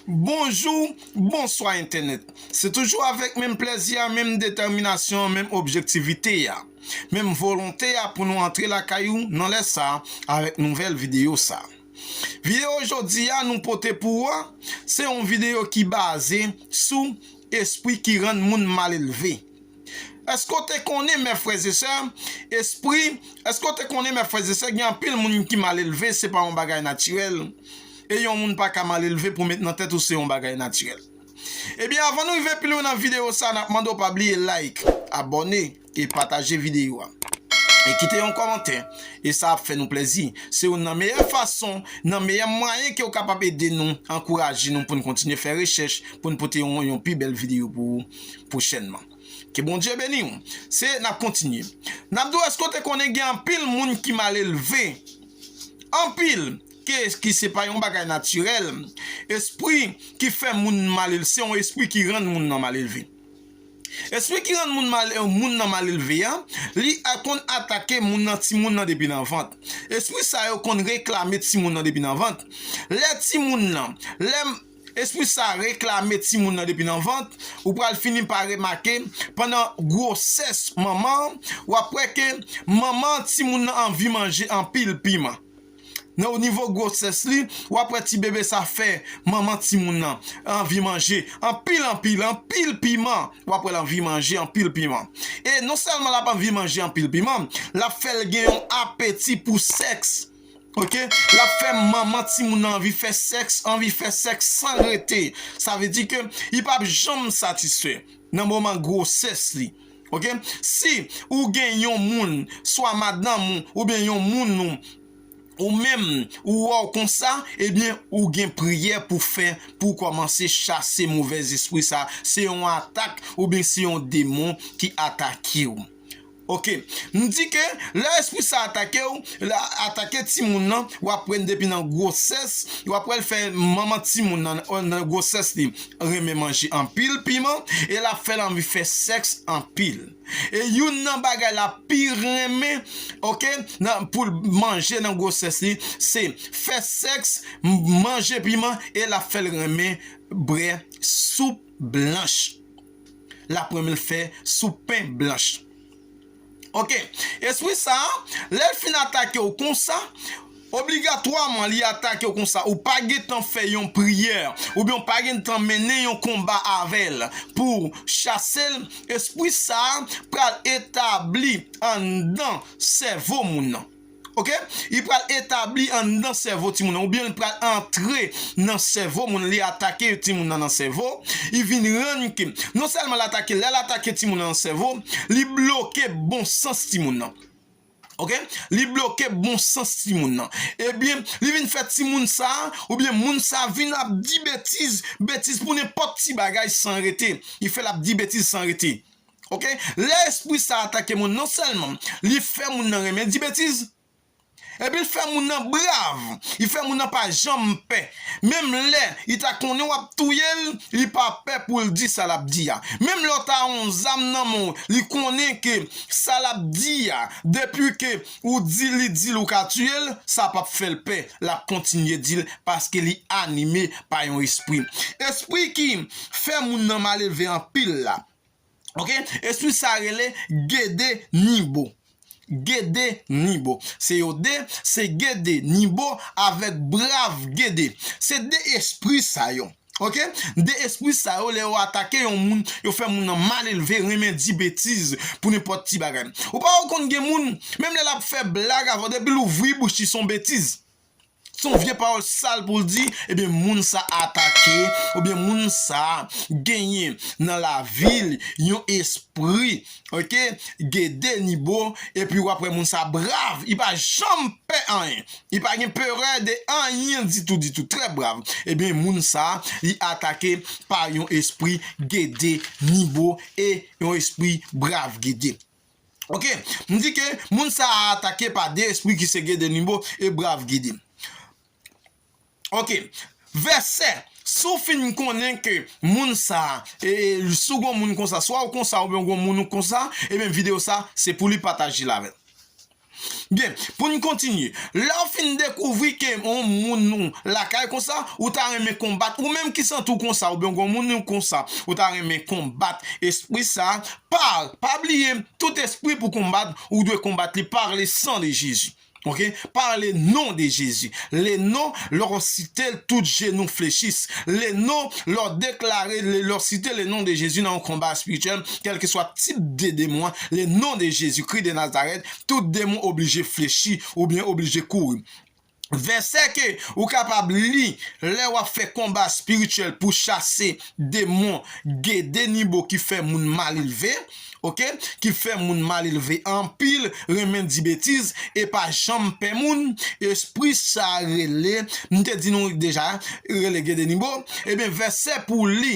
Bonjou, bonswa entènèt. Se toujou avèk menm plèzi a, menm detèminasyon an, menm objektivite a, menm volonte a pou nou antre lakay ou nan lè sa avèk nouvèl videyo sa. Videyo jodi a nou pote pou ou a, se yon videyo ki baze sou espri ki rann moun malelve. Èske w te konnen, mè frèzesè, espri, èske w te konnen, mè frèzesè, gen anpil moun ki malelve, se pa yon bagay natirèl, e yon moun pa ka malelve pou met nan tèt ou se yon bagay natirèl. Ebyen avan nou rive pilwen nan video sa nap mande w pa bliye like, abòne, e pataje video a. E kite yon kòmantè, e sa ap fè nou plèzi, se youn nan meyè fason, nan meyè mwayen ke w kapab ede nou, ankouraje nou poun kontinye fè rechèch, poun pote yon pi bèl video pou ou. pwochènman. Ke Bondye beni w. Se nap kontinye. Nap di w eske w te konnen gen anpil moun ki malelve. Anpil ke ki se pa yon bagay natirèl. Espri ki fè moun malel se yon espri ki rann moun nan malelve. Espri ki rann moun mal moun nan malelve a, li a konn atake moun nan ti moun nan depi nan vant. Espri sa yo konn reklame ti moun nan depi nan vant. Lè ti moun nan, lè. Espri sa a reklame timoun nan depi nan vant, ou pral fini pa remake pandan gwosès manman an, w ap wè ke manman timoun nan anvi manje anpil piman. Nan o nivo gwosès li, w ap wè ti bebe sa fè manman timoun nan anvi manje anpil anpil anpil piman, w ap wè l anvi manje anpil piman. E non sèlman l ap anvi manje anpil piman, l ap fè l gen yon apeti pou sèks. ok lap fè manman timoun nan anvi fè sèks anvi fè sèks san rete sa vle di ke li pap janm satisfè nan moman gwosès li ok si ou gen yon moun swa madanm ou oubyen yon moun ou ou menm ou wè w konsa ebyen ou gen priyè pou fè pou w kòmanse chase movèzespri sa se yon atak oubyen se yon demon ki atake w Ok. M di ke lè espri sa atake w, l atake timoun nan, w ap wè n depi nan gwosès, w ap wè l fè manman timoun nan nan gwosès li renmen manje anpil piman e l ap fè l anvi fè sèks anpil. E youn nan bagay l ap pi renmen ok nan pou l manje nan gwosès li se fè sèks, manje piman e l ap fè l renmen bre soup blanch. lap renmenl fè sou pen blanch ok espri sa lèl fin atakew konsa obligatwaman li atakew konsa ou pa gentan fè yon priyè oubyen ou pa gentan mennen yon konba avèl pouw chasel espri sa pral etabli anndan sèvo moun nan. Ok li pral etabli anndan sèvo timoun nan oubyen li pral antre nan sèvo moun li atake timoun nan nan sèvo li vin rann ke non sèlman l atake lè l atake timoun nan nan sèvo li bloke bon sans timoun nan ok li bloke bon sans timoun nan ebyen li vin fè timoun sa oubyen moun sa vin ap di betiz betiz pou nenpòt ti bagay san rete li fè l ap di betiz san rete. Ok, lè espri sa atake moun non sèlman li fè moun nan renmen di betiz, epi l fè moun nan brav, li fè moun nan pa janm pè, menm lè li ta konnen w ap touye l, li pa pè pou l di sa l ap di a, menm lè w ta yon zam nan men w, li konnen ke sa l ap di a, depi ke ou di li di l ou ka tiye l, sa p ap fè l pè, l ap kontinye di l, paske li anime pa yon espri. Espri ki fè moun nan malelve anpil la, Ok espri sa rele gede nibo gede nibo se yo de se gede nibo avek brav gede se de espri sa yo ok de espri sa yo le yo atake yon moun yo fe moun nan mal elve renmen di betiz pou nenpot ti bagay ou pa wè ou konn gen moun menm le lap fe blag avèw depi louvri bouch li son betiz Se yon vye pawòl sal pou l di, ebyen moun sa atake, oubyen moun sa genyen nan lavi l yon espri ok gede ni bo, epi wap wè moun sa brav, li pa janm pè anyen, li pa gen perè de anyen ditou ditou, trè brav, ebyen moun sa li atake pa yon espri gede ni bo e yon espri brav gede. Ok m di ke moun sa a atake pa 2 espri ki se Gede Nimbo e Brave Gede. Ok vèsè si w fin konnen ke moun sa a e si w gon moun konsa swa w konsa oubyen w gon moun ou konsa ebyen video sa se pou li pataje l avè l. Byen, pou n kontinye. Lè w fin dekouvri ke yon moun nou lakay konsa, ou ta renmen konbat, ou menm ki santi w konsa oubyen w gen yon moun nou konsa, ou ta renmen konbat espri sa, par, pa bliye, tout espri pou konbat, ou dwe konbat li par le sang de Jezi. Ok, par le non de Jezi. Le non, lè w site l, tout jenou flechis. Le non, lè w deklare, lè w site le non de Jezi nan yon konba espirityèl, kèlkeswa tip de demon an, Le non de Jezi Kri de Nazarèt, tout demon oblije flechi oubyen oblije kouri. Vèsè ke ou kapab li lè w ap fè konba spirityèl pou chase demon Gede Nibo ki fè moun malelve ok ki fè moun malelve anpil renmen di betiz e pa janm pè moun espri sa rele m te di nou deja rele Gede Nibo ebyen vèsè pou w li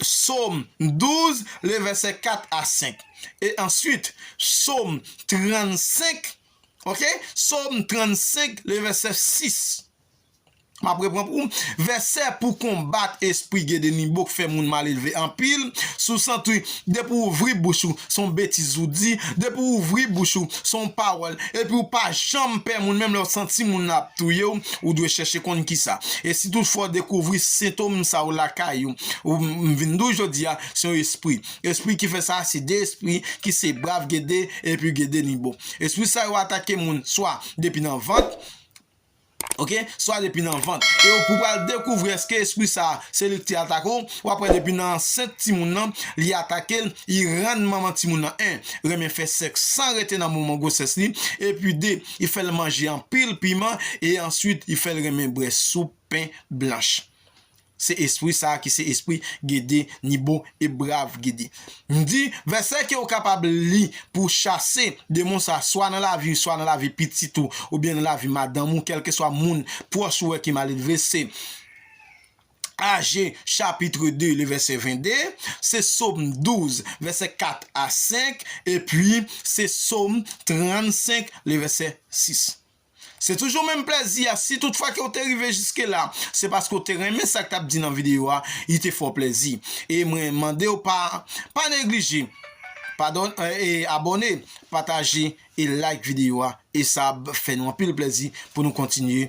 Psaume 12, le verset 4 a 5. Et ensuite, Psaume 35, ok, Psaume 35, le verset 6. Map repran pou ou. Verset pou konbat espri Gedeninbo k fè moun malelve anpil. Sou sant wi. Depi w ouvri bouch ou, son betiz ou di. Depi w ouvri bouch ou, son pawòl epi ou pa janm pè moun menm lè ou santi moun nan ap touye w, ou dwe chèche konn kisa. E si tout fwa ou dekouvri sentom sa yo lakay ou, ou m vin di w jodi a, se yon espri. Espri ki fè sa a se 2 espri ki se Brav Gede epi Gede Nibo. Espri sa yo atake moun swa depi nan vant, Ok swa depi nan vant e ou pral dekouvri eske espri sa se lik te atake ou wap wè depi nan ansent timoun nan li atakel li rann manman timoun nan 1 renmen fè sèks san rete nan moman gwosès li epi 2 li fèl manje anpil piman e answit li fèl renmen bwè soup pen blanch Se espri sa a ki se espri Gede, ni bon e brav Gede. M di, vèsè ke ou kapab li pou w chase demon sa a swa nan lavi ou, swa nan lavi pitit ou, oubyen nan lavi madanm ou, kèlkeswa moun pwòch ou wè ki maledve, se Age chapitre 2, le verset 22, se Psaume 12, verset 4 a 5, epi se Psaume 35, le verset 6. Se toujou menm plèzi a, si tout fwa ke ou te rive jiske la, se paske ou te renmen sa k tap di nan video a, li te fè w plèzi. E mwen mande w pa pa neglije padon e abòne, pataje e like video a e sa ap fè nou anpil plèzi pou nou kontinye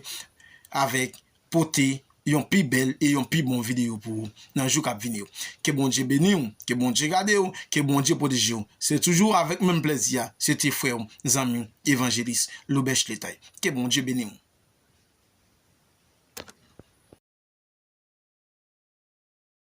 avèk pote yon pi bèl e yon pi bon videyo pou ou nan jou kap vini yo ke Bondye beniw ke Bondye gadew ke Bondye pwotejew se toujou avèk menm plèzi a se te frèw zanmiw evanjelis Laubèch Letay ke Bondye beniw.